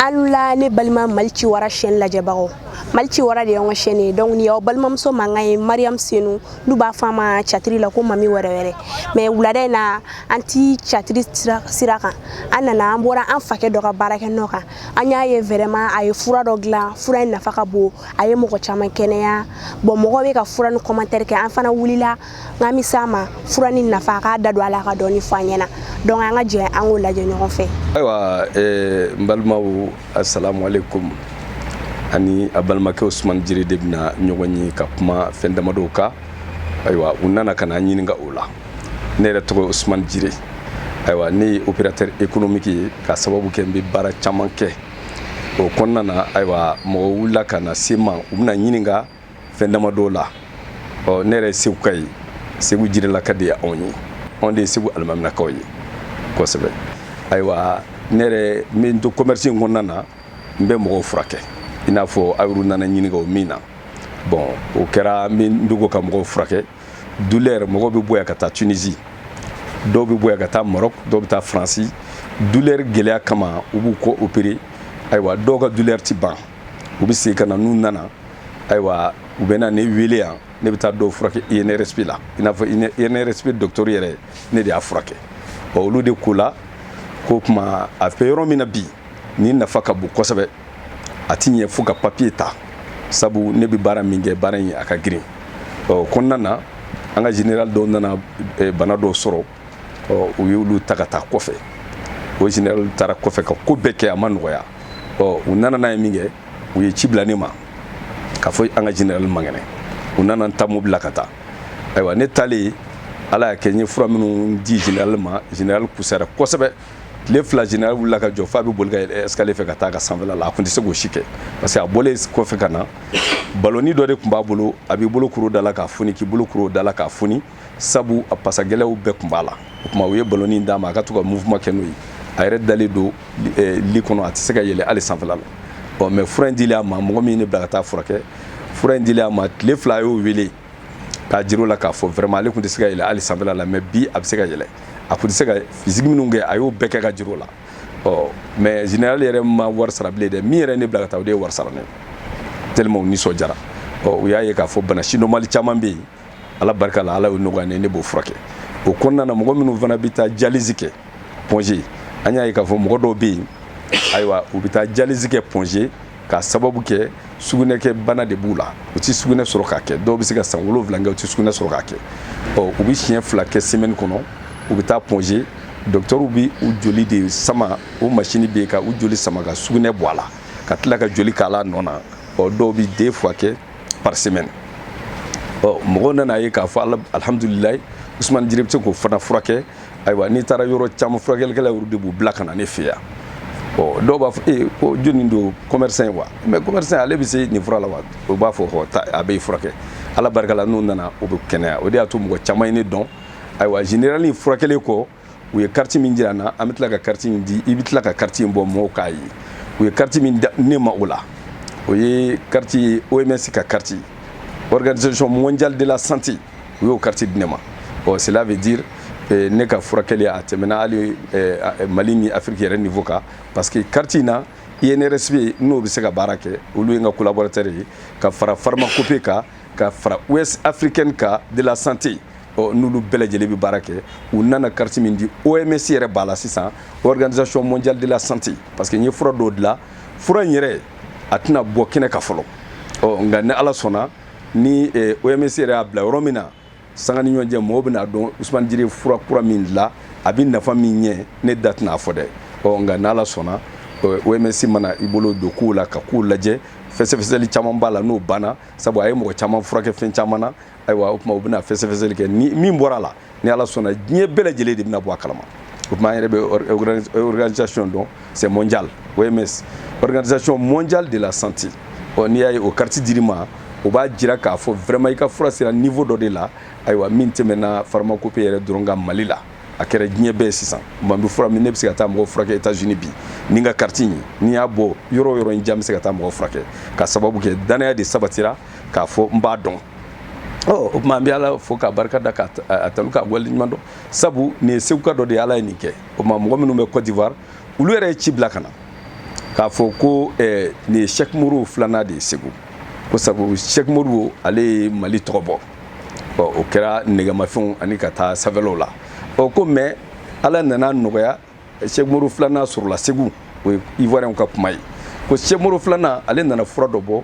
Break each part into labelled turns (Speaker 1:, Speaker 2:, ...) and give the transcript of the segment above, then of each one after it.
Speaker 1: aw ni wula ne balima mali ci wara chaîne lajɛbagaw mali ci wara de y'an ka chaîne ye donc nin y'aw balimamuso mankan ye mariam senu n'u b'a fɔ a ma théâtre la ko mami wɛrɛ wɛrɛ mais wulada in na an ti théâtre sira kan an nana an bɔra an fakɛ dɔ ka baarakɛ nɔ kan an y'a ye vraiment a ye fura dɔ dilan fura in nafa ka bon a ye mɔgɔ caman kɛnɛya bon mɔgɔ bɛ ka fura nin commentaire kɛ an fana wulila n ka na se a ma fura nin nafa a k'a da don a la ka dɔɔni fɔ an ɲɛna donc an ka jɛ an k'o lajɛ ɲɔgɔn fɛ ayiwa eh, n balimaw assalamu alaikum a ni a balimakɛ usumani jire de bɛna ɲɔgɔn ye ka kuma fɛn damadɔw kan ayiwa u nana ka na n ɲininka o la ne yɛrɛ tɔgɔ ye usumani jire ayiwa ne ye opérateur économique ye ka sababu kɛ n bɛ baara caman kɛ o kɔnɔna na ayiwa mɔgɔw wulila ka na se n ma u bɛ na n ɲininka fɛn dama dɔw la ɔ ne yɛrɛ ye seguka ye segu jirelaka de ye anw ye anw de ye segu alimaminakaw ye kosɛbɛ ayiwa ne yɛrɛ n bɛ n to commerce in kɔnɔna na n bɛ mɔgɔw furakɛ i n'a fɔ aw nana ɲininka o min na bon o kɛra n bɛ n dogo ka mɔgɔw furakɛ dulɛri mɔgɔw bɛ bɔ yan ka taa tunisi dɔw bɛ bɔ yan ka taa maroc dɔw bɛ taa faransi dulɛri gɛlɛya kama u b'u kɔ opere ayiwa dɔw ka dulɛri ti ban u bɛ segin ka na n'u nana ayiwa u bɛ na ne wele yan ne bɛ taa dɔw furakɛ INRSP la i n'a fɔ INRSP dɔgɔtɔrɔ yɛrɛ ne de y'a furakɛ ɔ olu de ko la k'o tuma a bɛ yɔrɔ min na bi nin nafa ka bon kosɛbɛ a ti ɲɛ fo ka papiye ta sabu ne bɛ baara min kɛ baara in a ka girin o kɔnɔna na an ka général dɔw nana eh, bana dɔw sɔrɔ ɔ u y'olu ta ka taa kɔfɛ o général taara kɔfɛ ka ko bɛɛ kɛ a ma nɔgɔya ɔ u nana n'a ye min kɛ u ye ci bila ne ma k'a fɔ an ka général man kɛnɛ u nana n ta mobili la ka taa ayiwa ne taalen ala y'a kɛ n ye fura minnu di général ma général fusara kosɛbɛ tile fila général wulila ka jɔ f'a bɛ boli ka yɛlɛ escalier fɛ ka taa a ka sanfɛla la a tun tɛ se k'o si kɛ parce que a bɔlen kɔfɛ ka na baloni dɔ de tun b'a bolo a b'i bolo kuru da la k'a foni k'i bolo kuru da la k'a foni sabu a pasagɛlɛw bɛɛ tun b'a la o tuma u ye balonin d'a ma a ka to ka mouvement kɛ n'o ye a yɛrɛ dalen don eh, lit kɔnɔ a tɛ se ka yɛlɛ hali sanfɛla la ɔ mais fura in dilen a ma mɔgɔ min ye ne bila ka taa a furakɛ fura in dilen a ma tile fila a y'o wele k'a jir'o la k'a fɔ vraiment ale tun tɛ se ka yɛlɛ hali sanfɛla la mais bi a bɛ se ka yɛlɛ a tun tɛ se ka fizigi minnu kɛ a y'o bɛɛ kɛ ka jir'o la ɔ mais général yɛrɛ ma wari sara bilen dɛ min yɛrɛ ye ne bila ka taa o de ye wari sara ne ye tellement u nisɔndiyara ɔ u y'a ye k'a fɔ bana si normali caman bɛ yen ala barika la ala y'o nɔgɔya ne ne b'o furakɛ o kɔnɔna na mɔgɔ minnu fana bɛ taa dialyse kɛ Point G an y'a ye k'a fɔ mɔgɔ dɔw bɛ yen ayiwa u bɛ taa dialyse kɛ Point G k'a sababu kɛ sugunɛkɛ bana de b'u la u tɛ sugunɛ sɔrɔ k'a kɛ dɔw bɛ se ka san wolonwula kɛ u tɛ sugunɛ sɔrɔ k'a kɛ ɔ u bɛ siɲɛ fila kɛ semaine kɔnɔ u bɛ taa Point G dɔkitɛriw bɛ u joli de sama o masini bɛ yen ka u joli sama ka sugunɛ bɔ a la ka tila ka joli k'a la nɔ na ɔ dɔw bɛ deux fois kɛ par semaine ɔ mɔgɔw nana ye k'a fɔ alhamdulilayi usumani jire bɛ se k'o fana furakɛ ayiwa n'i taara yɔrɔ caman furakɛlikɛla yɛrɛ de b'u bila ka na ne fɛ yan ɔ dɔw b'a fɔ ee ko jɔni don commerçant ye wa mais commerçant ale bɛ se nin fura la wa u b'a fɔ hɔ taa a bɛ furakɛ ala barika la n'u nana u bɛ kɛnɛya o de y'a to mɔgɔ caman ye ne dɔn ayiwa generali furakɛli kɔ u ye kariti min jira n na an bɛ tila ka kariti in di i bɛ tila ka kariti in bɔ mɔgɔw k'a ye u ye kariti min di ne ma o la o ye kariti ye oms ka kariti organisation mondiale de la santé u y'o kariti di ne ma ɔ cela veut dire eh, ne ka furakɛli a tɛmɛna hali eh, eh, mali ni afiriki yɛrɛ niveau kan parce que kariti in na inrsp n'o bɛ se ka baara kɛ olu ye n ka collaborateur ye ka fara pharmacopée kan ka fara ouest africaine kan de la santé ɔ n'olu bɛɛ lajɛlen bɛ baara kɛ u nana kariti min di oms yɛrɛ b'a la sisan organisation mondiale de la santé parce que n ye fura dɔw dilan fura in yɛrɛ a tɛna bɔ kɛnɛ kan fɔlɔ ɔ nka ni ala sɔnna ni oms yɛrɛ y'a bila yɔrɔ min na sanga ni ɲɔgɔn cɛ mɔgɔw bɛn'a dɔn usumani jire fura kura min dilan a bɛ nafa min ɲɛ ne da tɛna a fɔ dɛ ɔ nka n'ala sɔnna oms mana i bolo don kow la ka kow lajɛ fɛsɛfɛsɛli caman b'a la n'o banna sabu a ye mɔgɔ caman furakɛ fɛn caman na ayiwa o tuma u bɛna fɛsɛfɛsɛli kɛ ni min bɔra a la ni ala sɔnna diɲɛ bɛɛ lajɛlen de bɛna bɔ a kalama o tuma an yɛrɛ bɛ organisation dɔn c'est mondial OMS organisation mondiale de la santé ɔ n'i y'a ye o kariti dir'i ma o b'a jira k'a fɔ vraiment i ka fura sera niveau dɔ de la ayiwa min tɛmɛna pharmacopée yɛrɛ dɔrɔn kan mali la a kɛra diɲɛ bɛɛ sisan man bɛ fura min ne bɛ se ka taa mɔgɔ furakɛ états unis bi ni n ka kariti ye ni n y'a bɔ yɔrɔ o yɔrɔ in ja n bɛ se ka taa mɔgɔ furakɛ ka sababu kɛ danaya de sabatira k'a fɔ n b'a dɔn o tuma an bɛ ala fo k'a barika da k'a tanu k'a waleɲuman dɔn sabu nin ye seguka dɔ de ye ala ye nin kɛ o tuma mɔgɔ minnu bɛ Côte d'Ivoire olu yɛrɛ ye ci bila ka na k'a fɔ ko eh, nin ye Cheikh Modibo filanan de ye Segu ko sabu Cheikh Modibo ale ye Mali tɔgɔ bɔ ɔ o kɛra nɛgɛmafɛnw ani ka taa sanfɛlaw la ɔ ko mais ala nan'a nɔgɔya Cheikh Modibo filanan sɔrɔla Segu o ye Ivoirienw ka kuma ye ko Cheikh Modibo filanan ale nana fura dɔ bɔ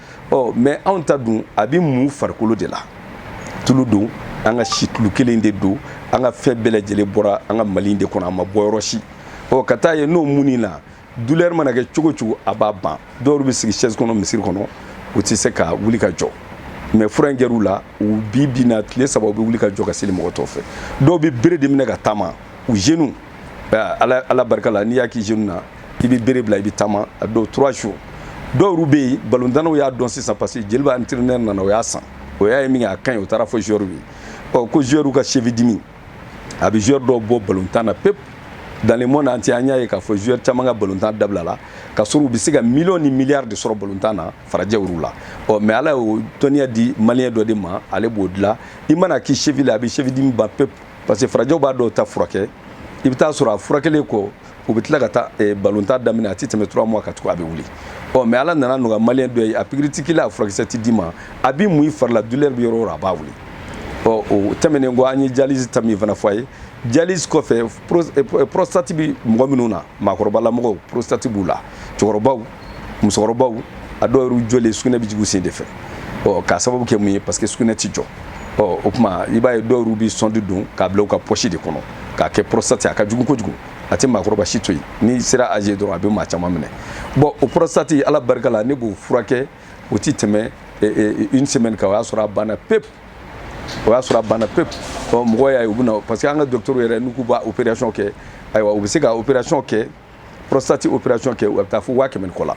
Speaker 1: ɔ mɛ anw ta dun a bɛ mun farikolo de la tulu don an ka situlu kelen de don an ka fɛn bɛɛ lajɛlen bɔra an ka mali de kɔnɔ a ma bɔ yɔrɔ si ɔ ka taa ye n'o munn'i la dulɛri mana kɛ cogo cogo a b'a ban dɔw bɛ sigi chaise kɔnɔ misiri kɔnɔ u tɛ se ka wuli ka jɔ mɛ fura in kɛr'u la u bi bi na tile saba u bɛ wuli ka jɔ ka seli mɔgɔ tɔw fɛ dɔw bɛ bere de minɛ ka taama u genoux ala barika la n'i y'a k'i genou na i bɛ bere bila i bɛ taama en deux trois jours dɔw bɛ yen balontannaw y'a dɔn sisan parce que joliba entraîneur nana o y'a san o y'a ye min kɛ a ka ɲi o taara fɔ joueur ye ɔ ko joueur ka cheville dimi a bɛ joueur dɔw bɔ balontan na pepu dans le monde entier an y'a ye k'a fɔ joueur caman ka balontan dabilala ka sɔrɔ u bɛ se ka miliyɔn ni miliyari de sɔrɔ balontan na farajɛw yɔrɔ la ɔ mɛ ala y'o dɔnniya di maliyɛn dɔ de ma ale b'o dilan i mana k'i cheville a bɛ cheville dimi ban pepu parce que farajɛw b'a dɔw ta furakɛ i bɛ taa sɔrɔ a furakɛlen kɔ u bɛ tila ka taa eh, balontan daminɛ a tɛ tɛmɛ trois mois kan tugun a bɛ wuli ɔ mɛ ala nan'a nɔgɔya maliyɛn dɔ ye a pikiri tɛ k'i la a furakisɛ tɛ d'i ma a bɛ mun i fari la dulɛri bɛ yɔrɔ o yɔrɔ a b'a wuli ɔ o tɛmɛnen kɔ an ye dialyse ta min fana fɔ a ye dialyse kɔfɛ eh, prostate bɛ mɔgɔ minnu na maakɔrɔbalamɔgɔw prostate b'u la cɛkɔrɔbaw musokɔrɔbaw a dɔw yɛrɛ jɔlen sugunɛ bɛ jigin sen de fɛ ɔ k'a sababu kɛ mun ye parce que sugunɛ ti jɔ ɔ o tuma i b'a ye dɔw yɛrɛ bɛ sɔndi don k'a bila u ka pɔsi de kɔnɔ k'a kɛ prostate a ka jugu kojugu a tɛ maakɔrɔba si to yen n'i sera âge dɔrɔn a bɛ maa caman minɛ bɔn o prostate ala barika la ne b'o furakɛ o tɛ tɛmɛ une semaine kan o y'a sɔrɔ a banna pepu o y'a sɔrɔ a banna pepu ɔ mɔgɔ y'a ye u bɛ na parce que an ka dɔgɔtɔrɔw yɛrɛ n'u k'u b'a opération kɛ ayiwa u bɛ se ka opération kɛ prostate opération kɛ a bɛ taa fo waa kɛmɛ ni kɔ la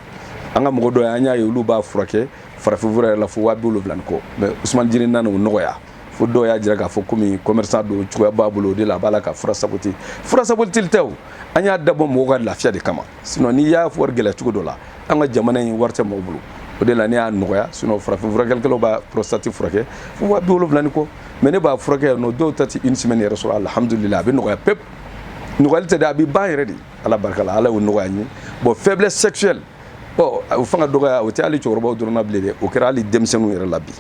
Speaker 1: an ka mɔgɔ dɔw yen an y'a ye olu b'a furakɛ farafinfura yɛrɛ la fo waa bi wolonwula ni kɔ mɛ usumani jiri nana o nɔgɔya fo dɔw y'a jira k'a fɔ komi commerçant don cogoya b'a bolo o de la a b'a la ka fura saboti fura sabotili tɛ o an y'a dabɔ mɔgɔw ka lafiya de kama sinon n'i y'a wari gɛlɛya cogo dɔ la an ka jamana in wari tɛ mɔgɔw bolo o de la ne y'a nɔgɔya sinon farafin furakɛlikɛlaw b'a prostate furakɛ fo waa bi wolonwula ni kɔ mɛ ne b'a furakɛ yan nɔ dɔw ta tɛ une semaine yɛrɛ sɔrɔ alhamdulillah a bɛ nɔgɔya pep nɔgɔyali tɛ dɛ a bɛ ban yɛrɛ de ala barika la ala y'o nɔgɔya n ye bɔn faiblesse sexuelle ɔ o fanga dɔgɔya o tɛ hali cɛkɔrɔbaw dɔrɔn na bilen dɛ o kɛra hali denmisɛnninw yɛrɛ la bi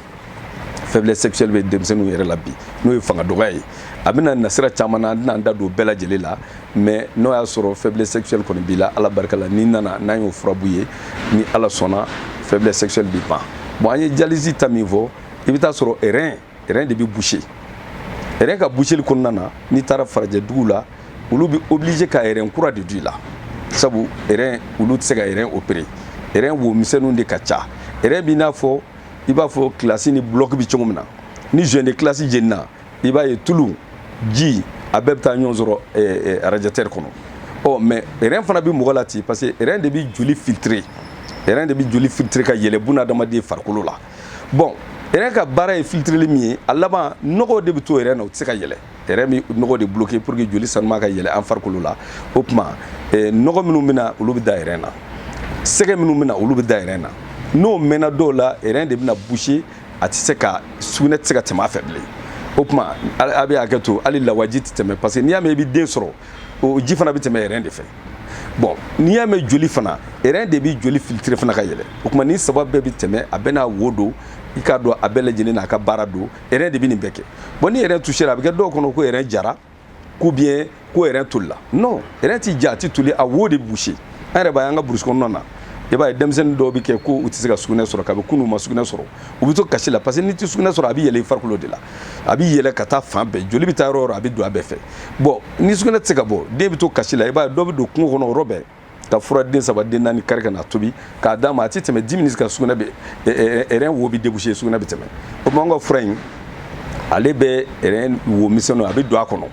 Speaker 1: faiblesse sexuelle bɛ denmisɛnninw yɛrɛ la bi n'o ye fanga dɔgɔya ye a bɛ na nasira caman na an tɛna an da don bɛɛ lajɛlen la mɛ n'o y'a sɔrɔ faiblesse sexuelle kɔni b'i la ala barika la n'i nana n'an y'o fura bɔ i ye ni ala sɔnna faiblesse sexuelle bɛ ban bɔn an ye dialyse ta min fɔ i bɛ taa sɔrɔ rein rɛn de bɛ boucher rɛn ka boucheli kɔnɔna na n'i taara farajɛ dugu la olu bɛ obligé ka rɛn kura de d'i la sabu rɛn olu tɛ se ka rɛn opérer rɛn wo misɛnninw de ka ca rɛn b'i n'a fɔ i b'a fɔ kilasi ni bulɔki bɛ cogo min na ni joint de kilasi jenina i b'a ye tulu ji a bɛɛ bɛ taa ɲɔgɔn sɔrɔ arajatɛri kɔnɔ ɔ mɛ rɛn fana bɛ mɔgɔ la ten parce que rɛn de bɛ joli filtrer rɛn de bɛ joli filtrer ka yɛlɛ bunadamaden farikolo la bɔn rɛn ka baara ye filtreli min ye a laban nɔgɔw de bɛ to rɛn na u tɛ se ka yɛlɛ rɛn bɛ nɔgɔw de bloqué pour que joli sanuma ka yɛlɛ an farikolo la o tuma eh, nɔgɔ minnu bɛ na olu bɛ da rɛn na sɛgɛ minnu bɛ na olu bɛ da rɛn na n'o mɛnna dɔw la rɛn de bɛna boucher a tɛ se ka sugunɛ tɛ se ka tɛmɛ a fɛ bilen o tuma a bɛ hakɛ to hali lawaji tɛ tɛmɛ parce que n'i y'a mɛn i bɛ den sɔrɔ o ji fana bɛ tɛmɛ rɛn de fɛ bɔn n'i y'a mɛn joli fana rɛn de bɛ joli filitiri fana ka yɛlɛ o tuma nin saba bɛɛ bɛ tɛmɛ a bɛna wo don i k'a dɔn a bɛɛ lajɛlen n'a ka baara don rɛn de bɛ nin bɛɛ kɛ bɔn ni rɛn tusera a bɛ kɛ dɔw kɔnɔ ko rɛn jara ko biɲɛ ko rɛn tolila non rɛn ti ja a ti toli a wo de bouché an yɛrɛ b'a ye an ka burusi kɔnɔna na i b'a ye denmisɛnnin dɔw bɛ kɛ ko u tɛ se ka sugunɛ sɔrɔ kabi kunun u ma sugunɛ sɔrɔ u bɛ to kasi la parce que n'i tɛ sugunɛ sɔrɔ a bɛ yɛlɛ i farikolo de la a bɛ yɛlɛ ka taa fan bɛɛ joli bɛ taa yɔrɔ yɔrɔ a bɛ don a bɛɛ fɛ bɔn ni sugunɛ tɛ se ka bɔ den bɛ to kasi la i b'a dɔ bɛ don kungo kɔnɔ yɔrɔ bɛɛ ka fura den saba den naani kari ka na tobi k'a d'a ma a tɛ tɛmɛ dix minutes kan sugunɛ bɛ rɛn wo bɛ déboucher sugunɛ bɛ tɛmɛ o tuma an ka fura in ale bɛ rɛn wo misɛnnin a bɛ don a kɔnɔ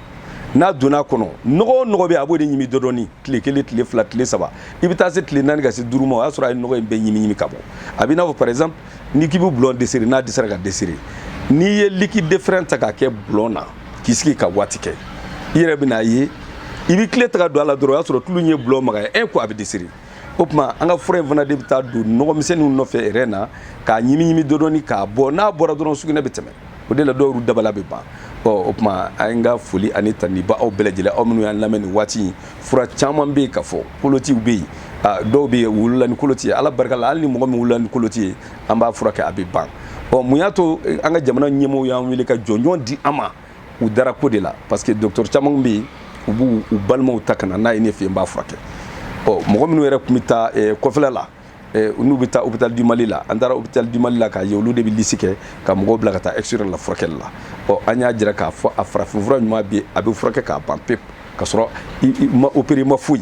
Speaker 1: n'a donna a kɔnɔ nɔgɔ o nɔgɔ bɛ a b'o de ɲimi dɔdɔni tile kelen tile fila tile saba i bɛ taa se tile naani ka se duuru ma o y'a sɔrɔ a ye nɔgɔ in bɛɛ ɲimi ɲimi ka bɔ a b'i n'a fɔ par exemple n'i k'i bɛ bulon desiri n'a dɛsɛra ka desiri n'i ye liquide de frein ta k'a kɛ bulon na k'i sigi ka waati kɛ i yɛrɛ bɛn'a ye i bɛ kile ta k'a don a la dɔrɔn o y'a sɔrɔ tulu in ye bulon magaya un coup a bɛ desiri o tuma an ka fura in fana de bɛ taa don nɔgɔmisɛnninw nɔfɛ rɛn na k'a ɲimi ɲimi dɔdɔni k'a bɔ n'a bɔra dɔrɔn sugunɛ bɛ tɛmɛ o de la dɔw ka bana bɛ ban ɔ o tuma an ka foli ani tanuni b'aw bɛɛ lajɛlen aw minnu y'an lamɛn nin waati in fura caman bɛ yen ka fɔ kolotiw bɛ yen dɔw bɛ yen wolola ni koloti ye ala barika la hali ni mɔgɔ min wolola ni koloti ye an b'a furakɛ a bɛ ban ɔ mun y'a to eh, an ka jamana ɲɛmɔgɔw y'an wele ka jɔnjɔn di an ma u dara ko de la parce que dɔgɔtɔrɔ caman bɛ yen u b'u u balimaw ta ka na n'a ye ne fɛ yan n b'a furakɛ ɔ mɔgɔ minnu yɛrɛ tun bɛ taa eh, kɔfɛla la Eh, n'u bɛ taa hôpital du Mali la an taara hôpital du Mali la k'a ye olu de bɛ liste kɛ ka mɔgɔw bila ka taa extérieur la furakɛli la ɔ an y'a jira k'a fɔ a farafinfura ɲuman bɛ a bɛ furakɛ k'a ban pewu ka sɔrɔ i ma opérer ma foyi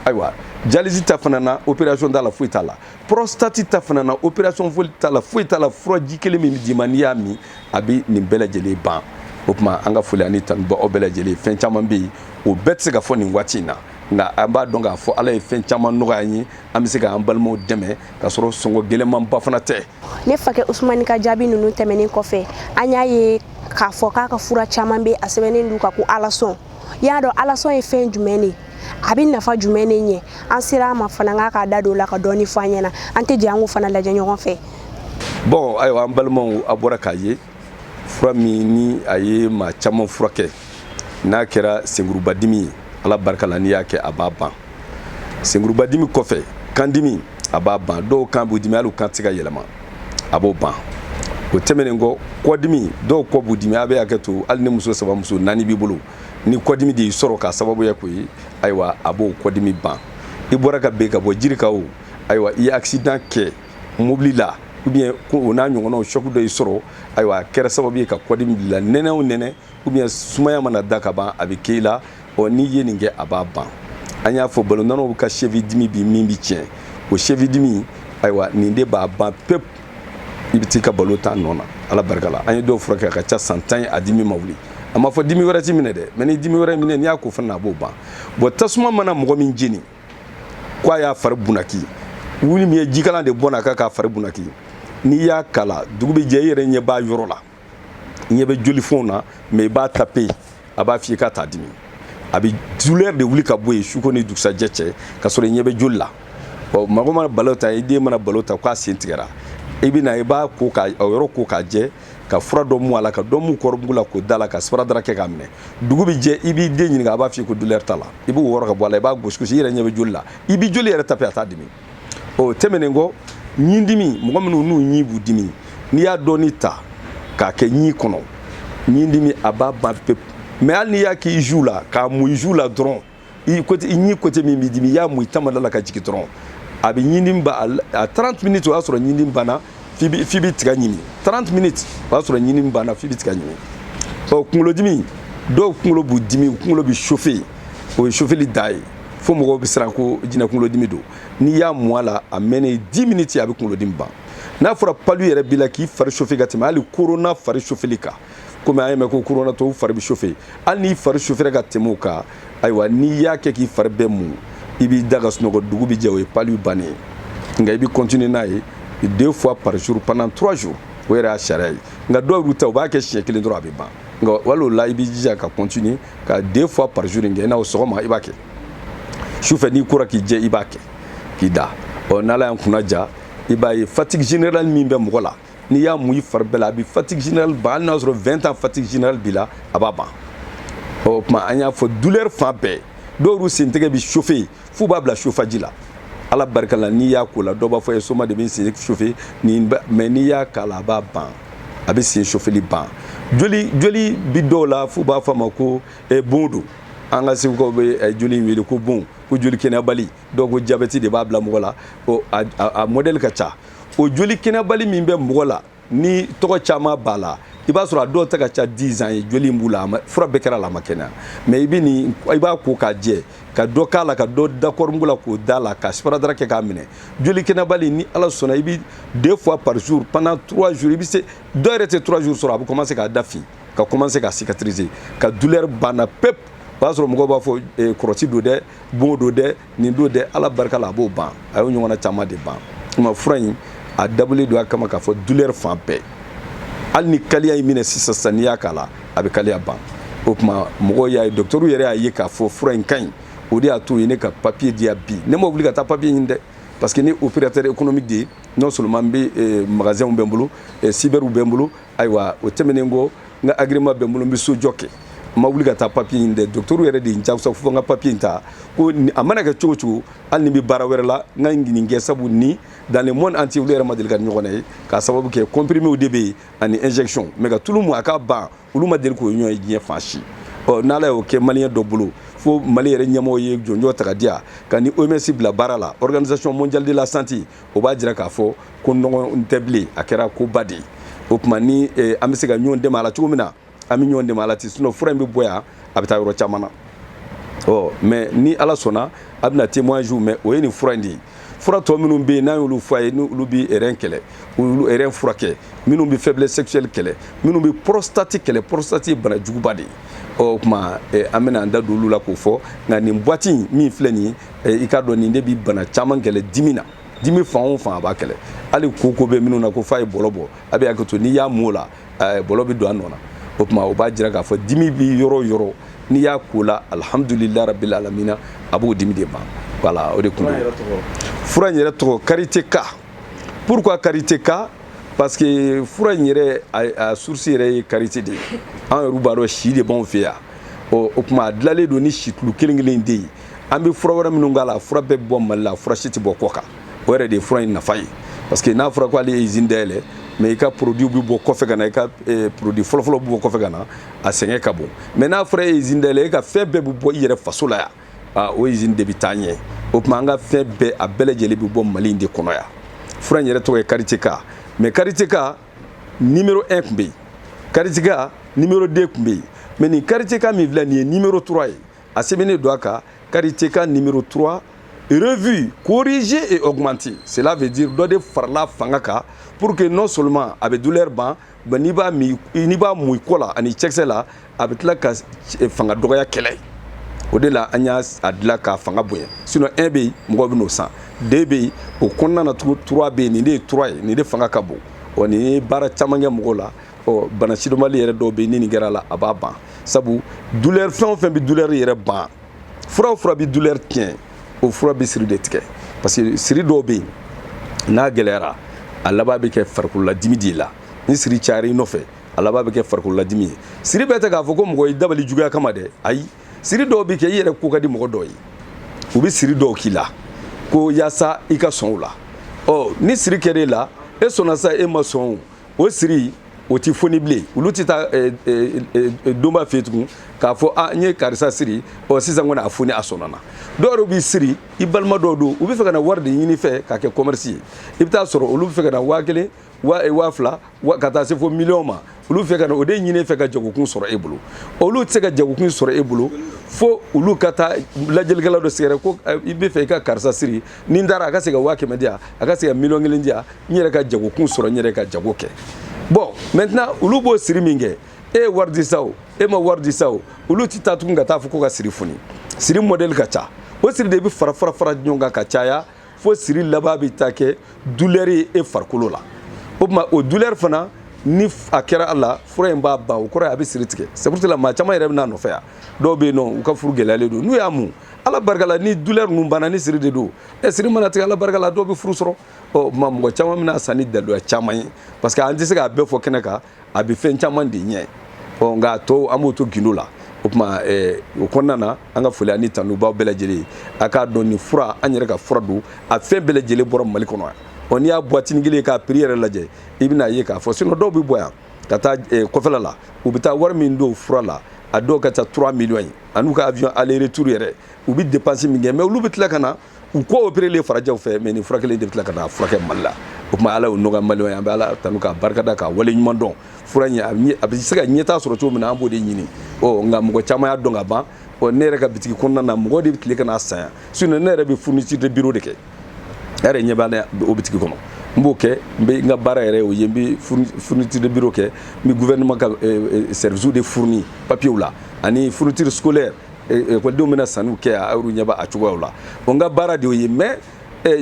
Speaker 1: ayiwa dialyse ta fana na opération t'a la foyi t'a la prostate ta fana na opération foyi t'a la foyi t'a la furaji kelen min bɛ d'i ma n'i y'a min a bɛ nin bɛɛ lajɛlen ban o tuma an ka foli ani tanu b'aw bɛɛ lajɛlen fɛn caman bɛ yen o bɛɛ tɛ se ka fɔ nin waati in na nka an b'a dɔn k'a fɔ ala ye fɛn caman nɔgɔya an ye an bɛ se k'an balimaw dɛmɛ k'a sɔrɔ sɔngɔ gɛlɛnmanba fana tɛ ne fakɛ usumani ka jaabi ninnu tɛmɛnen kɔfɛ an y'a ye k'a fɔ k'a ka fura caman bɛ a sɛbɛnnen don a kan ko alasɔn i y'a dɔn alasɔn ye fɛn jumɛn de ye a bɛ nafa jumɛn de ɲɛ an sera a ma fana k'a ka da don a la ka dɔɔni fɔ an ɲɛna an tɛ jɛ an k'o fana lajɛ ɲɔgɔn fɛ bɔn ayiwa an balimaw a bɔra k'a ye fura min ni a ye maa caman furakɛ n'a kɛra senkurubadimi ye ala barika la n'i y'a kɛ a b'a ban senkurubadimi kɔfɛ kandimi a b'a ban dɔw kan b'u dimi hali u kan tɛ se ka yɛlɛma a b'o ban o tɛmɛnen kɔ kɔdimi dɔw kɔ b'u dimi a bɛ hakɛ to hali ni muso saba muso naani b'i bolo ni kɔdimi de y'i sɔrɔ k'a sababuya k'o ye ayiwa a b'o kɔdimi ban i bɔra ka bin ka bɔ jiri kan ayiwa i ye accident kɛ mobili la ou bien ko o n'a ɲɔgɔnnaw choc dɔ y'i sɔrɔ ayiwa a kɛra sababu ye ka kɔdimi bil'i la nɛnɛ o nɛnɛ ou bien sumaya mana da ka ban a bɛ k'e la ɔ n'i ye nin kɛ a b'a ban an y'a fɔ balontannaw ka cheville dimi bi min b'i tiɲɛ o cheville dimi ayiwa nin de b'a ban pewu i bɛ t'i ka balon tan nɔ na ala barika la an ye dɔw furakɛ a ka ca san tan ye a dimi ma wuli an ma fɔ dimi wɛrɛ t'i minɛ dɛ mɛ ni dimi wɛrɛ minɛ n'i y'a ko fana a b'o ban bɔn tasuma mana mɔgɔ min jeni k'a y'a fari bunaki wali min ye jikalan de bɔn a kan k'a fari bunaki n'i y'a k'a la dugu bɛ jɛ i yɛrɛ ɲɛ b'a yɔrɔ la ɲɛ bɛ jolifɛnw na mɛ i b'a tape a b'a f'i k'a t'a dimi a bɛ douleur de wuli ka bɔ yen suko ni dugusajɛ cɛ ka sɔrɔ i ɲɛ bɛ joli la ɔ mɔgɔ mana balon tan i den mana balon tan k'a sen tigɛra i bɛ na i b'a ko k'a yɔrɔ ko k'a jɛ ka fura dɔ mu a la ka dɔ mu kɔɔrimugu la k'o da a la ka sparadrap kɛ k'a minɛ dugu bɛ jɛ i b'i den ɲininka a b'a f'i ko douleur t'a la i b'o wɔrɔ ka bɔ a la i b'a gosi gosi i yɛrɛ ɲɛ bɛ joli la i b'i joli yɛrɛ tape a t'a dimi o tɛmɛnen kɔ ɲindimi mɔgɔ minnu n'u ɲi b'u dimi n'i y'a dɔɔni ta k'a kɛ ɲi kɔnɔ ɲindimi a b'a ban pewu mɛ hali n'i y'a k'i joue la k'a mu i joue la dɔrɔn i ɲi côté min b'i dimi i y'a mun i tamada la ka jigi dɔrɔn a bɛ ɲini ban a 30 minutes o y'a sɔrɔ ɲini banna f'i bɛ tiga ɲimi 30 minutes o y'a sɔrɔ ɲini banna f'i bɛ tiga ɲimi ɔ kunkolodimi dɔw kunkolo b'u dimi u kunkolo bɛ chauffe o ye chauffeli dan ye fo mɔgɔw bɛ siran ko jinɛ kunkolodimi don n'i y'a mun a la a mɛnnen 10 minutes a bɛ kunkolodimi ban n'a fɔra palu yɛrɛ b'i la k'i fari chauffe ka tɛmɛ hali korona fari chauffeli kan komi an y'a mɛn ko koronatɔw fari bɛ chauffe hali n'i fari chauffera ka tɛmɛ o kan ayiwa n'i y'a kɛ k'i fari bɛɛ mun i b'i da ka sunɔgɔ dugu bɛ jɛ o ye palu bannen ye nka i bɛ kɔntini n'a ye deux fois par jour pendant trois jours o yɛrɛ y'a sariya ye nka dɔw b'a ta u b'a kɛ siɲɛ kelen dɔrɔn a bɛ ban nka hali o la i b'i jija ka kɔntini ka deux fois par jour in kɛ i n'a fɔ sɔgɔma i b'a kɛ sufɛ n'i kora k'i jɛ i b'a kɛ k'i da ɔ n'ala y'an kunna diya i b'a ye fatigue générale min bɛ mɔgɔ la n'i y'a mun i fari bɛɛ la a bɛ fatigue générale ban hali n'a sɔrɔ 20 ans fatigue générale b'i la a b'a ban o tuma an y'a fɔ douleur fan bɛɛ dɔw y'u sen tɛgɛ bi chauffer f'u b'a bila chauffage la ala barika la n'i y'a k'o la dɔw b'a fɔ i ye sumaya de bɛ n sen chauffer nin mais n'i y'a k'a la a b'a ban a bɛ sen chauffeli ban joli joli bi dɔw la f'u b'a fɔ a ma ko eh, bon don an ka segukaw bɛ eh, joli in wele ko bon ko joli kɛnɛyabali dɔw ko jabɛti de b'a bila mɔgɔ la a modɛli ka ca o joli kɛnɛbali min bɛ mɔgɔ la ni tɔgɔ caman b'a la i b'a sɔrɔ a dɔw ta ka ca 10 ans ye joli in b'u la fura bɛɛ kɛra la a ma kɛnɛya mais i bɛ nin i b'a ko k'a jɛ ka dɔ k'a la ka dɔ da kɔɔrimugu la k'o da la ka sparadrap kɛ k'a minɛ joli kɛnɛbali ni ala sɔnna i bɛ deux fois par jour pendant trois jours i bɛ se dɔw yɛrɛ tɛ trois jours sɔrɔ a bɛ commencer k'a da fin ka commencer ka cicatriser ka douleur banna pewu o y'a sɔrɔ mɔgɔw b'a fɔ kɔrɔti don dɛ bon don dɛ nin don dɛ ala barika la a b'o ban a y'o ɲɔgɔnna caman de ban o tuma fura in a dabɔlen don a kama k'a fɔ douleur fan bɛɛ hali ni kaliya y'i minɛ sisan sisan n'i y'a k'a la a bɛ kaliya ban o tuma mɔgɔw y'a ye docteurw yɛrɛ y'a ye k'a fɔ fura in ka ɲi o de y'a to u ye ne ka papiye diya bi ne ma wuli ka taa papiye ɲini dɛ parce que n ye opérateur économique de ye non seulement n bɛ eh, magasinw bɛ n bolo eh, cyberw bɛ n bolo ayiwa o tɛmɛnen kɔ n ka agrément bɛ n bolo n bɛ sojɔ kɛ n ma wuli ka taa papiye ɲini dɛ dɔgɔtɔrɔw yɛrɛ de ye n jagoya fo n ka papiye in ta ko a mana kɛ cogo o cogo hali ni n bɛ baara wɛrɛ la n ka nin kɛ sabu ni dans le monde entier olu yɛrɛ ma deli k'a ɲɔgɔn ye k'a sababu kɛ comprimés de bɛ yen ani injection mais ka tulu mun a ka ban olu ma deli k'o ɲɔgɔn ye diɲɛ fan si ɔ n'ala y'o kɛ maliyɛn dɔ bolo fo mali yɛrɛ ɲɛmɔgɔ ye jɔnjɔn ta ka diya k'a ni oms bila baara la organisation mondiale de la santé o b'a jira k'a fɔ ko nɔgɔn tɛ bilen a kɛra koba de ye o tuma ni eh, an bɛ se ka ɲɔgɔn dɛmɛ a la cogo min na an bɛ ɲɔgɔn dɛmɛ a la ten sinɔn fura in bɛ bɔ yan a bɛ taa yɔrɔ caman na ɔ mais ni ala sɔnna a bɛna témoignage mɛ o ye nin fura in de ye fura tɔ minnu bɛ yen n'an y'olu fɔ a ye n'olu bɛ rein kɛlɛ olu rein furakɛ minnu bɛ faiblesse sexuelle kɛlɛ minnu bɛ prostate kɛlɛ prostate ye bana juguba de ye ɔ o tuma eh, an bɛna an da don olu la k'o fɔ nka nin boîte in min filɛ nin ye i k'a dɔn nin de bi bana caman kɛlɛ dimi na dimi fan o fan a b'a kɛlɛ hali kooko bɛ minnu na ko f'a ye bɔlɔ bɔ a bɛ hakɛ to n'i y'a m'o la bɔlɔ bɛ don a nɔ na o tuma o b'a jira k'a fɔ dimi bɛ yɔrɔ o yɔrɔ n'i y'a k'o la alihamudulila rabila alamina a b'o dimi de ban voilà o de tun fura in yɛrɛ tɔgɔ karité ka pourquoi karité ka parce que fura in yɛrɛ a source yɛrɛ ye karité de ye an yɛrɛ b'a dɔn si de b'anw fɛ yan ɔ o tuma a dilanlen don ni situlu kelen kelen de ye an bɛ fura wɛrɛ minnu k'a la fura bɛɛ bɛ bɔ mali la fura si tɛ bɔ kɔkan o yɛrɛ de ye fura in nafa ye parce que n'a fɔra ko ale ye izini dayɛlɛ mɛ i ka produit bɛ bɔ kɔfɛ ka na i ka eh, produit fɔlɔfɔlɔ bɛ bɔ kɔfɛ ka na a sɛgɛn ka bon mɛ n'a fɔra e ye izini dayɛlɛ e ka fɛn bɛɛ bɛ bɔ i yɛrɛ faso la yan ah, o izini de bɛ taa ɲɛ o tuma an ka fɛn bɛɛ a bɛɛ lajɛlen bɛ bɔ mali in de kɔnɔ yan fura in yɛrɛ tɔgɔ ye kariteka mɛ kariteka nimero 1 tun bɛ yen kariteka nimero 2 tun bɛ yen mɛ nin kariteka min filɛ nin ye nimero 3 ye a sɛbɛnnen don a kan kariteka nimero 3 revue corrigée et augmentée cela veut dire dɔ de farala a fanga kan pour que non seulement a bɛ douleur ban mais n'i b'a min n'i b'a mun i kɔ la ani cɛkisɛ la a bɛ tila ka fanga dɔgɔya kɛlɛ o de la an y'a dilan k'a fanga bonya sinon 1 bɛ yen mɔgɔw bɛ n'o san 2 bɛ yen o kɔnɔna na tugun 3 bɛ yen nin de ye 3 ye nin de fanga ka bon wa nin ye baara caman kɛ mɔgɔw la ɔ bana sidɔnbali yɛrɛ dɔw bɛ yen ni nin kɛra a la a b'a ban sabu dulɛri fɛn o fɛn bɛ dulɛri yɛrɛ ban fura o fura bɛ dulɛri tiɲɛ o fura bɛ siri de tigɛ parce que siri dɔw bɛ yen n'a gɛlɛyara a laban bɛ kɛ farikololadimi de la ni siri cayara i nɔfɛ a laban bɛ kɛ farikololadimi ye siri bɛɛ tɛ k'a fɔ ko mɔgɔ y'i dabali juguya kama dɛ ayi siri dɔw bɛ kɛ i yɛrɛ ko ka di mɔgɔ dɔw ye u bɛ siri dɔw k'i la ko yaasa i ka sɔn o la ɔ ni siri kɛra e la e sɔnna sa e ma sɔn o o siri o tɛ foni bilen olu tɛ taa eh, eh, eh, doma fɛ tugun k'a fɔ a ah, n ye karisa siri ɔ sisan kɔni a foni a sɔnna dɔw yɛrɛ b'i siri i balima dɔw don u b'a fɛ ka na wari de ɲini i fɛ k'a kɛ kɔmɛrisi ye i bɛ t'a sɔrɔ olu b'a fɛ ka na waa kelen waa fila ka taa se fo miliyɔn ma olu b'a fɛ ka na o de ɲini i fɛ ka jagokun sɔrɔ e bolo olu tɛ se ka jagokun sɔrɔ e bolo fo olu ka taa lajɛlikɛla dɔ sɛgɛrɛ ko i b'a fɛ i ka karisa siri ni n taara a ka se ka waa kɛmɛ di yan a ka se ka miliyɔn kelen di yan n yɛrɛ ka jagokun sɔrɔ n yɛrɛ ka jago kɛ bon maintenant olu b'o siri min kɛ e ye wari di sa o e ma wari di sa o olu ti taa tugun ka t'a fɔ ko ka siri foni siri mɔdɛli ka ca o siri de bɛ fara fara fara ɲɔgɔn kan ka caya fo siri laban bɛ taa kɛ dulɛri ye e farikolo la o tuma o dulɛri fana ni a kɛra a la fura in b'a ban o kɔrɔ ye a bɛ siri tigɛ c'est pour cela maa caman yɛrɛ bɛ n'a nɔfɛ yan dɔw bɛ yen n'u ka furu gɛlɛyalen don n'u y'a mun ala barika la ni dulɛri ninnu banna ni siri de don ɛ siri mana tigɛ ala barika la dɔw bɛ furu sɔrɔ ɔ ma mɔgɔ caman bɛ n'a san ni daluya caman ye parce que an tɛ se k'a bɛɛ fɔ kɛnɛ kan a bɛ fɛn caman de ɲɛ ɔ nka tɔw an b'o to gindo la o tuma eh, o kɔnɔna na an ka foli ani tanu b'aw bɛɛ lajɛlen ye a k'a dɔn nin fura an yɛrɛ ka fura don a fɛn bɛɛ lajɛlen bɔra mali kɔnɔ yan ɔ n'i y'a buwatini kelen ka piri yɛrɛ lajɛ i bɛn'a ye k'a fɔ sinon dɔw bɛ bɔ yan ka taa eh, kɔfɛla la u bɛ taa wari min don fura la a dɔw ka ca 3 miliyɔn ye an'u ka avion aller retour yɛrɛ u bɛ dépense min kɛ mais olu bɛ tila ka na u kɔ operelen farajɛw fɛ mais nin furakɛli de bɛ tila ka na furakɛ Mali la o tuma ala y'o nɔgɔya maliyɛnw ye an bɛ ala tanu k'a barikada k'a wale ɲuman dɔn fura in a bɛ se ka ɲɛtaa sɔrɔ cogo min na an b'o de ɲini ɔ nka mɔgɔ caman y'a dɔn ka ban ɔ ne yɛrɛ ka bitigi kɔnɔna na mɔgɔ de bɛ tila ka n'a san yan sinon ne yɛrɛ bɛ fourniture de bureau de kɛ e yɛrɛ ɲɛ b'a la o bitigi kɔnɔ n b'o kɛ n bɛ n ka baara yɛrɛ o ye n bɛ fourniture de bureau kɛ n bɛ gouvernement ka eh, eh, service de fourni papiers la ani fourniture scolaire ekɔlidenw eh, bɛna sanniw kɛ a y'olu ɲɛba a cogoyaw la o n ka baara de y'o ye mais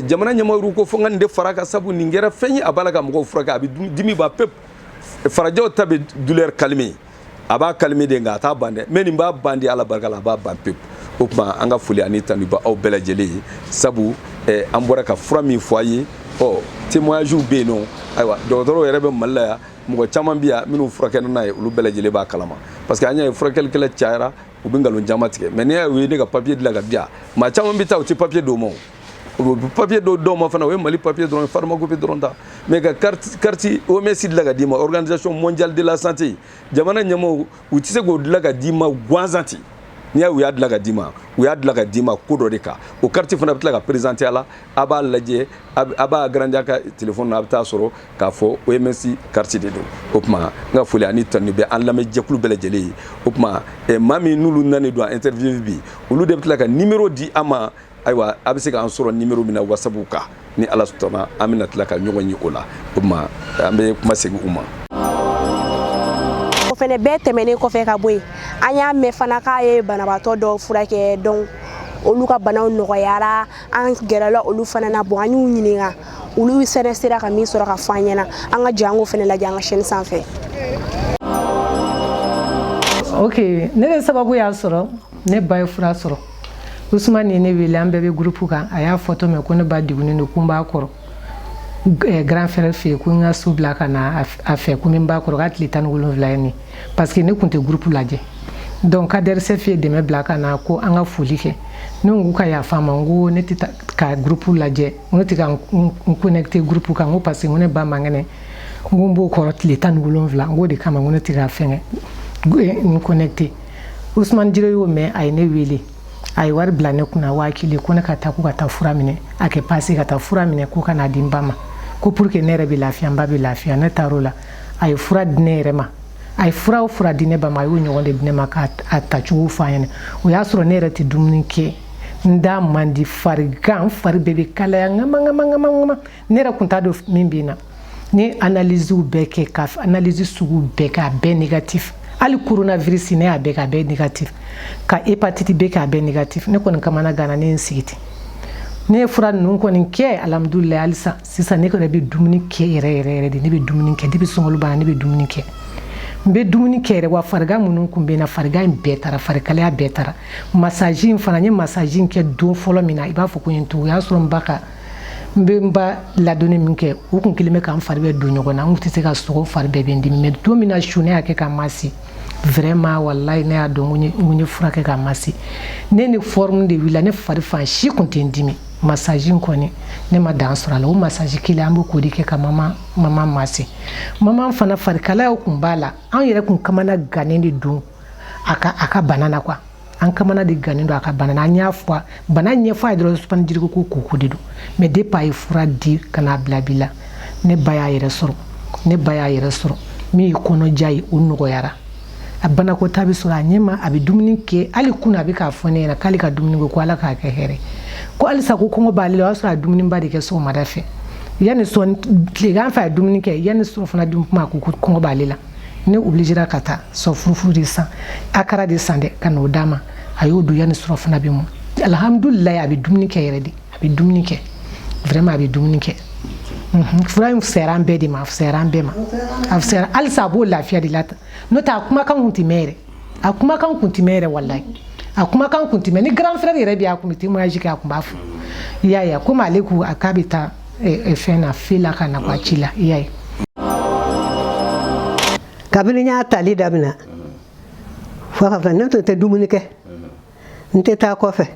Speaker 1: jamana ɲɛmɔgɔw ko fo n ka nin de far'a kan sabu nin kɛra fɛn ye a b'a la ka mɔgɔw furakɛ a bɛ dimi ban pewu farajɛw ta bɛ douleur calmer a b'a calmer de nka a t'a ban dɛ mais nin b'a ban dɛ ala barika la a b'a ban pewu o tuma an ka foli ani tanu b'aw bɛɛ lajɛlen ye sabu eh, an bɔra ka fura min fɔ a ye ɔ témoignagew bɛ yen nɔ ayiwa dɔgɔtɔrɔw yɛrɛ bɛ mali la yan mɔgɔ caman bɛ yan minnu furakɛli n'a ye olu bɛɛ lajɛlen b'a kalama parce que an y'a ye furakɛlikɛla cayara u bɛ nkalon caman tigɛ mais n'i y'a ye u ye ne ka papiye dilan ka di yan maa caman bɛ taa u tɛ papiye d'u ma o papier dɔw dɔw ma fana o ye mali papier dɔrɔn pharmacopée dɔrɔn ta mais ka carte carte OMS dilan ka d'i ma organisation mondiale de la santé jamana ɲɛmɔgɔw u tɛ se k'o dilan ka d'i ma gansan ten n'i y'a u y'a dilan ka d'i ma u y'a dilan ka d'i ma ko dɔ de kan o carte fana bɛ tila ka présenter a la a b'a lajɛ a b'a agrandi a ka telefɔni na a bɛ taa sɔrɔ k'a fɔ OMS carte de don o tuma n ka foli ani tanu bɛ an lamɛn jɛkulu bɛɛ lajɛlen ye o tuma maa min n'olu nanen don an interview bi olu de bɛ tila ka numéro di an ma ayiwa a bɛ se k'an sɔrɔ nimɔrɔ min na wasabu kan ni ala sɔnna an bɛna tila ka ɲɔgɔn ye o la o tuma an bɛ kuma segin u ma o fana bɛɛ tɛmɛnen kɔfɛ ka bɔ yen an y'a mɛn fana k'a ye banabaatɔ dɔw furakɛ dɔn olu ka banaw nɔgɔyara an gɛrɛla olu fana na bon an y'u ɲininka olu fɛnɛ sera ka min sɔrɔ ka fɔ an ɲɛna an ka jɛ an k'o fana lajɛ an ka chaîne sanfɛ ok ne bɛ sababu y'a sɔrɔ ne ba ye fura sɔrɔ usumani ye ne wele an bɛɛ bɛ gurupu kan a y'a fɔtɔ mɛn ko ne ba degunnen don ko n b'a kɔrɔ eh, grand frère fɛ yen ko n ka so bila ka na a fɛ ko n bɛ n ba kɔrɔ k'a tile tan ni wolonwula ye nin parce que ne tun tɛ gurupu lajɛ donc kadɛrisɛf ye dɛmɛ bila ka na ko an ka foli kɛ ne ko ka yafa n ma n ko ne tɛ ka gurupu lajɛ n ko n tɛ ka n connecte gurupu kan n ko parce que n ko ne ba man kɛnɛ n ko n b'o kɔrɔ tile tan ni wolonwula n k'o de kama n ko ne tɛ ka fɛngɛ n connecte usman jire y'o mɛn a ye ne wele a ye wari bila ne kunna waa kelen ko ne ka taa ko ka taa fura minɛ a kɛ pase ka taa fura minɛ ko ka n'a di n ba ma ko pour que ne yɛrɛ bɛ lafiya n ba bɛ lafiya ne taar'o la a ye fura di ne yɛrɛ ma a ye fura o fura di ne ba ma a y'o ɲɔgɔn de di ne ma k'a tacogo fɔ n ɲɛna o y'a sɔrɔ ne yɛrɛ tɛ dumuni kɛ n da man di farigan fari bɛɛ bɛ kalaya ŋama ŋama ŋama ŋama ne yɛrɛ kun t'a dɔn min bɛ n na ne ye analysew bɛɛ kɛ ka analyse sugu bɛɛ kɛ a bɛɛ négatif hali coronavirus ne y'a bɛɛ kɛ a bɛɛ négatif ka hépatite B kɛ a bɛɛ négatif ne kɔni kamana ganna ne ye n sigi ten ne ye fura ninnu kɔni kɛ alhamdulilayi halisa sisan ne kɔni bɛ dumuni kɛ yɛrɛ yɛrɛ yɛrɛ de ne bɛ dumuni kɛ depuis sunkalo banna ne bɛ dumuni kɛ n bɛ dumuni kɛ yɛrɛ wa farigan minnu kun bɛ n na farigan in bɛɛ taara farikalaya bɛɛ taara masaji in fana n ye masaji in kɛ don fɔlɔ min na i b'a fɔ ko n ye n tugu o y'a sɔrɔ n ba ka n bɛ n ba ladonni min kɛ o tun kɛlen bɛ ka n fari bɛɛ don ɲɔgɔn na n tun tɛ se ka sunɔgɔ fari bɛɛ bɛ n dimi mɛ don min na su ne y'a kɛ ka n masi vraiment walayi ne y'a dɔn ko n ye fura kɛ ka n masi ne ni forme de wulila ne fari fan si tun tɛ n dimi masaji in kɔni ne ma dan sɔrɔ a la o masaji kelen an bɛ k'o de kɛ ka mama mama masi mama fana farikalaya tun b'a la an yɛrɛ tun kamana gannen de don a ka a ka bana na quoi an kamana de gannen don a ka bana na an y'a fɔ bana ɲɛfɔ a ye dɔrɔn sumani jiriko ko koko de don mɛ depuis a ye fura di ka n'a bila bi la ne ba y'a yɛrɛ sɔrɔ ne ba y'a yɛrɛ sɔrɔ min ye kɔnɔja ye o nɔgɔyara a banakɔtaa bɛ sɔrɔ a ɲɛma a bɛ dumuni kɛ hali kunun a bɛ k'a fɔ ne ɲɛna k'ale ka dumuni kɛ ko ala k'a kɛ hɛrɛ ko halisa ko kɔngɔ b'ale la o y'a sɔrɔ a dumuniba de kɛ sɔgɔmada fɛ yanni sɔɔni tilegan fɛ a dumuni kɛ yanni sɔɔni fana dun kuma ko kɔngɔ b'ale la ne obilizera ka taa sɔ furufuru de san akara de san dɛ ka n'o d'a ma a y'o dun yanni sɔrɔ fana bɛ mu alihamudulila a bɛ dumuni kɛ yɛrɛ de a bɛ dumuni kɛ vraiment a bɛ dumuni kɛ mhm. fura in fisayara an bɛɛ de ma a fisayara an bɛɛ ma a fisayara halisa a b'o lafiya de la n'o tɛ a kumakan kun tɛ mɛn yɛrɛ a kumakan kun tɛ mɛn yɛrɛ walayi a kumakan kun tɛ mɛn ne grand frère yɛrɛ bɛ a kun bɛ témoignage kɛ a kun b'a fɔ i y'a ye a komi ale ko a k'a bɛ taa fɛn na fe la ka na ko a ci la i y'a ye kabini n y'a tali daminɛ fo ka fɛ ne tun tɛ dumuni kɛ n tɛ taa kɔfɛ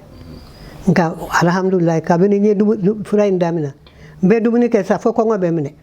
Speaker 1: nka alhamdulilayi kabini n ye fura in daminɛ n bɛ dumuni kɛ sa fo kɔngɔ bɛ n minɛ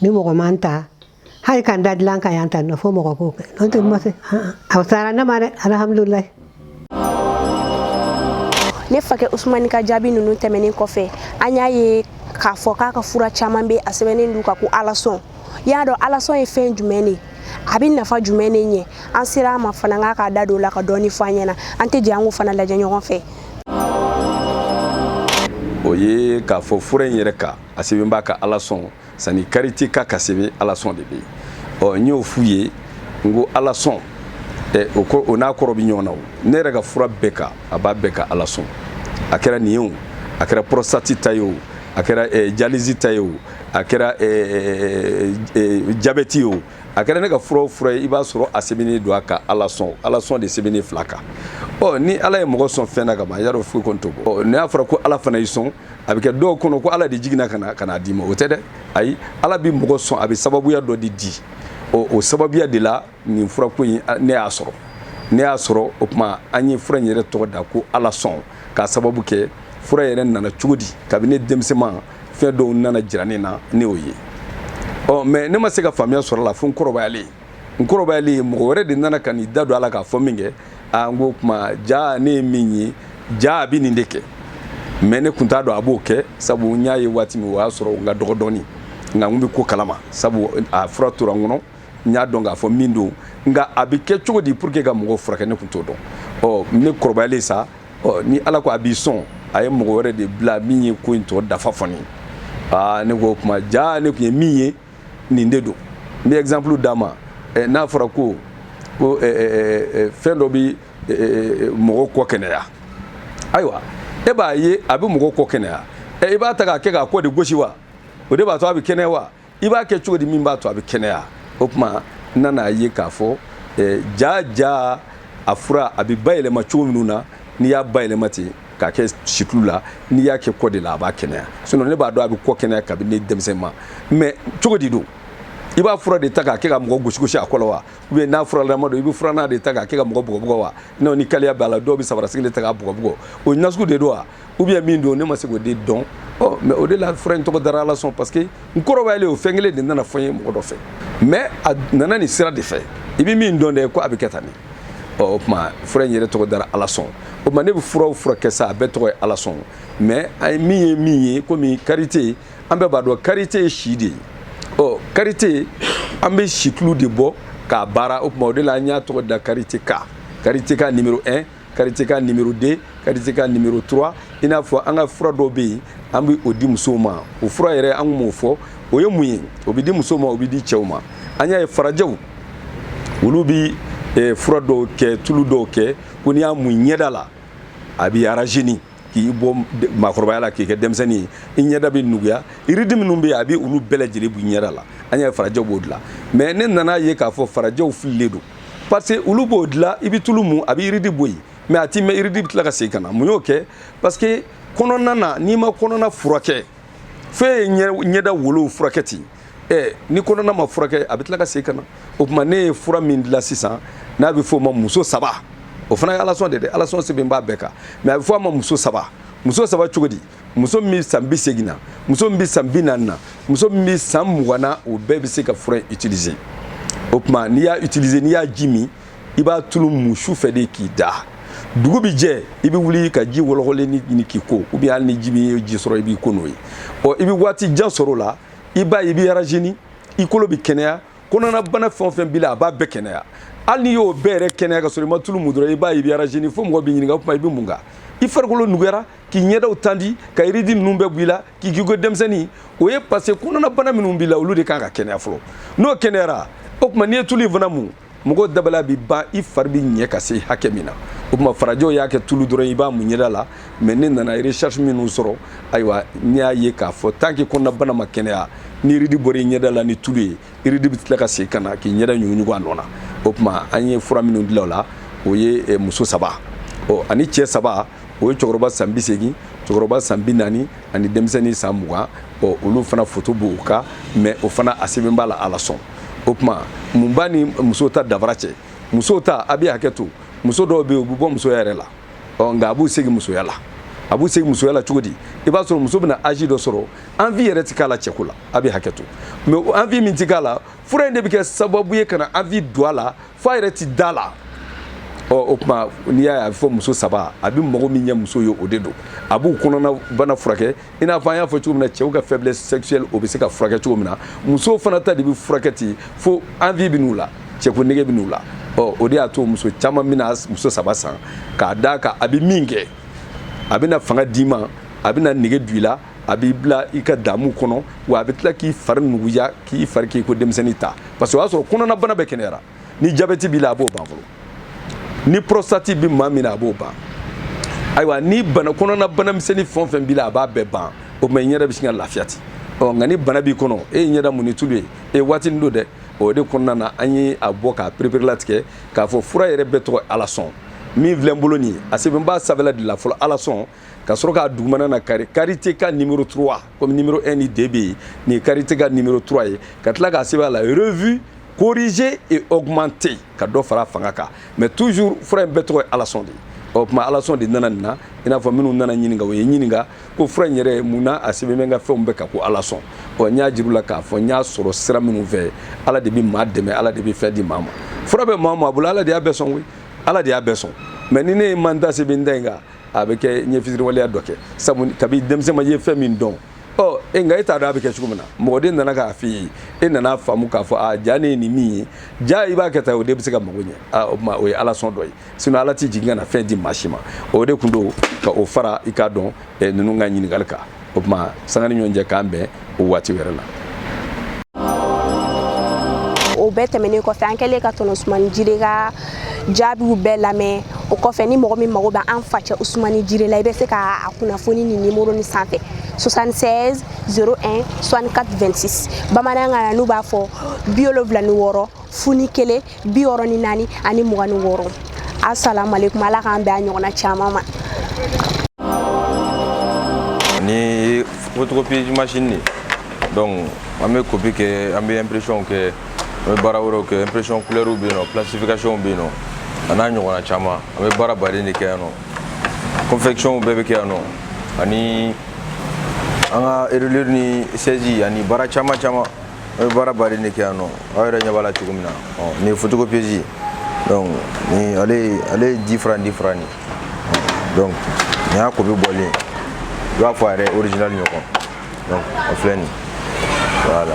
Speaker 1: ni mɔgɔ ma n ta hali ka da dilan kan yan ta nɔ fo mɔgɔ k'o kɛ n'o tɛ n ma se a sara ne ma dɛ alihamudulilayi ne fakɛ usumani ka jaabi ninnu tɛmɛnen kɔfɛ an y'a ye k'a fɔ k'a ka fura caman bɛ a sɛbɛnnen don a kan ko alasɔn y'a dɔn alasɔn ye fɛn jumɛn de a bɛ nafa jumɛn de ɲɛ an sera a ma fana k'a k'a da don o la ka dɔɔni fɔ an ɲɛna an tɛ jɛ an k'o fana lajɛ ɲɔgɔn fɛ o ye k'a fɔ fura in yɛrɛ kan a sɛbɛn b'a kan alasɔn sani kariti kan ka sɛbɛn alasɔn de bɛ yen ɔ n y'o f'u ye n ko alasɔn o ko o n'a kɔrɔ bɛ ɲɔgɔn na o ne yɛrɛ ka fura bɛɛ kan a b'a bɛɛ kan alasɔn a kɛra nin ye o a kɛra porositati ta ye o a kɛra jalizi ta ye o a kɛra jabɛti ye o a kɛra ne ka fura o fura ye i b'a sɔrɔ a sɛbɛnnen don a kan alasɔn alasɔn de sɛbɛnnen fura kan ɔ ni ala ye mɔgɔ sɔn fɛn na ka ban y'a dɔn foyi kɔni t'o bɔ ɔ n'a y'a fɔra ko ala fana y'i sɔn a bɛ kɛ dɔw kɔnɔ ko ala de jiginna ka na ka n'a d'i ma o tɛ dɛ ayi ala bɛ mɔgɔ sɔn a bɛ sababuya dɔ de di o o sababuya de la nin furako in ne y'a sɔrɔ ne y'a sɔrɔ o tuma an ye fura in yɛrɛ tɔgɔ da ko alasɔn k'a sababu kɛ fura yɛrɛ nana cogo di kabini ne denmisɛnman fɛn dɔw nana jira ne na ne y'o ye ɔ mɛ ne ma se ka faamuya sɔrɔ a la fo n kɔrɔbayalen n kɔrɔbayalen ye mɔgɔ wɛrɛ de nana ka n'i da don a la k'a fɔ min kɛ aa n ko o tuma ja ne ye min ye ja a bɛ nin de kɛ mɛ ne kun t'a dɔn a b'o kɛ sabu n y'a ye waati min o y'a sɔrɔ n ka dɔgɔ dɔɔni nka n bɛ ko kalama sabu a fura tora n kɔnɔ n y'a dɔn k'a fɔ min don nka a bɛ kɛ cogo di pour que ka mɔgɔw furakɛ ne kun t'o dɔn ɔ ne kɔrɔbayalen sa ɔ ni ala ko a b'i sɔn a ye mɔgɔ wɛrɛ de bila min ye ko in tɔ dafa fɔ ne ye aa ne ko o tuma ja ne tun ye min ye nin de don n bɛ exemple d'a ma eh, n'a fɔra ko ko eh, eh, fɛn dɔ bɛ mɔgɔw kɔ kɛnɛya ayiwa e b'a ye a bɛ mɔgɔw kɔ kɛnɛya i b'a ta k'a kɛ k'a kɔ de gosi wa o de b'a to a bɛ kɛnɛya wa i b'a kɛ cogo di min b'a to a bɛ kɛnɛya o tuma n nan'a ye k'a fɔ ja ja a fura a bɛ bayɛlɛma cogo minnu na n'i y'a bayɛlɛma ten k'a kɛ situlu la n'i y'a kɛ kɔ de la a b'a kɛnɛya sinɔn ne b'a dɔn a bɛ kɔ kɛnɛya kabini ne denmisɛnman mɛ cogo di don i b'a fura de ta k'a kɛ ka mɔgɔ gosigosi a kɔ la wa ou bien n'a furalama don i bɛ furannan de ta k'a kɛ ka mɔgɔ bugɔbugɔ wa n'o ni kaliya b'a la dɔw bɛ sabarasigi de ta k'a bugɔbugɔ o nasugu de don wa ou bien min don ne ma se k'o de dɔn ɔ mɛ o de la fura in tɔgɔ dara alasɔn parce que n kɔrɔbayalen o fɛn kelen de nana fɔ n ye mɔgɔ dɔ fɛ mɛ a nana nin sira de fɛ i bɛ min dɔn dɛ ko a bɛ kɛ tan nin ɔ o tuma fura in yɛrɛ tɔgɔ dara alasɔn o tuma ne bɛ fura o fura kɛ sa a bɛɛ tɔgɔ ye alasɔn mɛ an ye min ye min ye komi karite an bɛɛ b'a dɔn karite ye si de ye ɔ karite an bɛ situlu de bɔ k'a baara o tuma o de la an y'a tɔgɔ da karite ka karite ka nimero 1 karite ka nimero 2 karite ka nimero 3 i n'a fɔ an ka fura dɔw bɛ yen an bɛ o di musow ma o fura yɛrɛ an tun b'o fɔ o ye mun ye o bɛ di musow ma o bɛ di cɛw ma an y'a ye farajɛw olu bɛ eh, fura dɔw kɛ tulu dɔw kɛ ko n'i y'a mun i ɲɛda la a b'i rajeunir k'i bɔ maakɔrɔbaya la k'i kɛ denmisɛnnin ye i ɲɛda bɛ nuguya ride minnu bɛ yen a bɛ olu bɛɛ lajɛlen b'i ɲɛda la an y'a ye farajɛw b'o dilan mɛ ne nan'a ye k'a fɔ farajɛw fililen don parce que olu b'o dilan i bɛ tulu mun a bɛ ride bɔ yen mɛ a tɛ mɛn ride bɛ tila ka segin ka na mun y'o kɛ parce que kɔnɔna na n'i ma kɔnɔna furakɛ fɛn ye ɲɛda wolow furakɛ ten ɛ ni kɔnɔna ma furakɛ a bɛ tila ka segin ka na o tuma ne ye fura min dilan sisan n'a bɛ f'o ma muso saba o fana ye alasɔn de ye dɛ alasɔn sɛbɛn b'a bɛɛ kan mɛ a bɛ fɔ a ma muso saba muso saba cogo di muso min bɛ san bi segin na muso min bɛ san bi naani na muso min bɛ san mugan na o bɛɛ bɛ se ka fura in utiliser o tuma n'i y'a utiliser n'i y'a ji min i b'a tulu mun su fɛ de k'i da dugu bi jɛ i bɛ wuli ka ji wɔlɔkɔlenni ɲini k'i ko ou bien hali ni ji bɛ ji sɔrɔ i b'i ko n'o ye ɔ i bɛ waati jan sɔrɔ o la i b'a ye i bɛ rajeuni i kolo bɛ kɛnɛya kɔnɔnabana fɛn o fɛn b'i la a b'a bɛɛ kɛnɛya hali n'i y'o bɛɛ yɛrɛ kɛnɛya ka sɔrɔ i ma tulu mun dɔrɔn i b'a ye i bɛ rajeuni fo mɔgɔ b'i ɲininka o tuma i bɛ mun kan i farikolo nuguyara k'i ɲɛda tendu ka rides ninnu bɛɛ bɔ i la k'i k'i ko denmisɛnnin o ye parce que kɔnɔnabana minnu b'i la olu de kan ka kɛnɛya fɔlɔ n'o kɛnɛyara o tuma n'i ye tulu in fana mun mɔgɔ dabali bi ban i fari bi ɲɛ ka se hakɛ min na o tuma farajɛw y'a kɛ tulu dɔrɔn i b'a mun ɲɛda la mais ne nana recherche minnu sɔrɔ ayiwa ne y'a ye k'a fɔ tant que kɔnɔnabana ma kɛnɛya ni rides bɔra i ɲɛda la ni tulu ye rides bɛ tila ka segin ka na k'i ɲɛda ɲuguɲugu a nɔ na o tuma an ye fura minnu dilan o la o ye eh, muso saba ɔ ani cɛ saba o ye cɛkɔrɔba san bi seegin cɛkɔrɔba san bi naani ani denmisɛnnin san mugan ɔ olu fana foto b'u kan mais o fana a sɛbɛn b'a la ala sɔn o tuma mun b'a ni muso ta danfara cɛ muso ta a bɛ hakɛ to muso dɔw bɛ yen u bɛ bɔ musoya yɛrɛ la ɔ nka a b'u segin musoya la a b'u segin musoya la cogo di i b'a sɔrɔ muso bɛna âge dɔ sɔrɔ envie yɛrɛ ti k'a la cɛko la a bɛ hakɛ to mais envie min ti k'a la fura in de bɛ kɛ sababu ye ka na envie don a la f'a yɛrɛ ti d'a la ɔ o tuma n'i y'a ye a bɛ fɔ muso saba a bɛ mago min ɲɛ muso ye o de don a b'u kɔnɔnabana furakɛ i n'a fɔ an y'a fɔ cogo min na cɛw ka faiblesse sexuelle o bɛ se ka furakɛ cogo min na musow fana ta de bɛ furakɛ ten fo envie bɛ n'u la cɛko nege bɛ n'u la ɔ o de y'a to muso caman bɛna muso saba san k'a d'a kan a bɛ min kɛ a bɛna fanga d'i ma a bɛna nege don i la a b'i bila i ka damu kɔnɔ wa a bɛ tila k'i fari nuguya k'i fari k'i ko denmisɛnnin ta parce que o y'a sɔrɔ kɔnɔnabana bɛɛ kɛnɛyara ni jabɛti b'i la a b'o ban fɔlɔ ni prostate bɛ maa min na a b'o ban ayiwa ni bana kɔnɔnabana misɛnnin fɛn o fɛn b'i la a b'a bɛɛ ban o tuma i ɲɛda bɛ sin ka lafiya ten ɔ nka ni bana b'i kɔnɔ e ye ɲɛda mun ni tulu ye e ye waatinin don dɛ o de kɔnɔna na an ye a bɔ k'a pereperelatigɛ k'a fɔ fura yɛrɛ bɛɛ tɔgɔ ala sɔn min filɛ n bolo nin ye a sɛbɛn b'a sanfɛla de la fɔlɔ ala sɔn ka sɔrɔ k'a dugumana na kari karite ka numéro 3 comme numéro 1 ni 2 bɛ yen nin ye karite ka numéro 3 ye ka tila k'a sɛbɛn a la revue corrigée et augmentée ka dɔ fara fanga kan mais toujours fura in bɛɛ tɔgɔ ye alasɔn de ye o tuma alasɔn de nana nin na i n'a fɔ minnu nana n ɲininka u ye n ɲininka ko fura in yɛrɛ mun na a sɛbɛn bɛ n ka fɛnw bɛɛ kan ko alasɔn ɔ n y'a jir'u la k'a fɔ n y'a sɔrɔ sira minnu fɛ ala de bɛ maa dɛmɛ ala de bɛ fɛn di maa ma fura bɛ maa o maa bolo ala de y'a bɛɛ sɔn koyi ala de y'a bɛɛ sɔn mais ni ne ye manda sɛbɛn da in kan a bɛ kɛ n ye fisiriwaleya dɔ kɛ sabu kabi denmisɛnma i ye fɛn min dɔn ɔ e nka e t'a dɔn a bɛ kɛ cogo min na mɔgɔ de nana k'a f'i ye e nana faamu k'a fɔ a ja ne ye nin min ye ja i b'a kɛ tan o de bɛ se ka mago ɲɛ o tuma o ye ala sɔn dɔ ye sinon ala tɛ jigin ka na fɛn di maa si ma o de tun don ka o fara i ka don ninnu ka ɲininkali kan o tuma sanga ni ɲɔgɔn cɛ k'an bɛn o waati wɛrɛ la o bɛɛ tɛmɛnen kɔfɛ an kɛlen ka tɔnɔ usumani jire ka jaabiw bɛɛ lamɛn o kɔfɛ ni mɔgɔ min mago bɛ an facɛ usumani jire la i bɛ se ka a kunnafoni nin nimɔrɔ nin sanfɛ 76 01 64 26 bamanankan na n'u b'a fɔ bi wolonwula ni wɔɔrɔ fu ni kelen bi wɔɔrɔ ni naani ani mugan ni wɔɔrɔ asalamualeykum ala k'an bɛn a ɲɔgɔnna caman ma nin photocopie machine de donc an bɛ kopi kɛ an bɛ impression kɛ an bɛ baara wɛrɛw kɛ impression couleurs bɛ yen nɔ plastification bɛ yen nɔ a n'a ɲɔgɔnna caman an bɛ baara baden de kɛ yan nɔ confection bɛɛ bɛ kɛ yan nɔ ani an ka reliure ni saisie ani baara caman caman an bɛ baara baden de kɛ yan nɔ aw yɛrɛ ɲɛ b'a la cogo min na nin ye photocopieuse donc ni ale ale ye dix francs dix francs nin donc nin y'a kopi bɔlen i b'a fɔ a yɛrɛ original ɲɔgɔn donc a filɛ nin voilà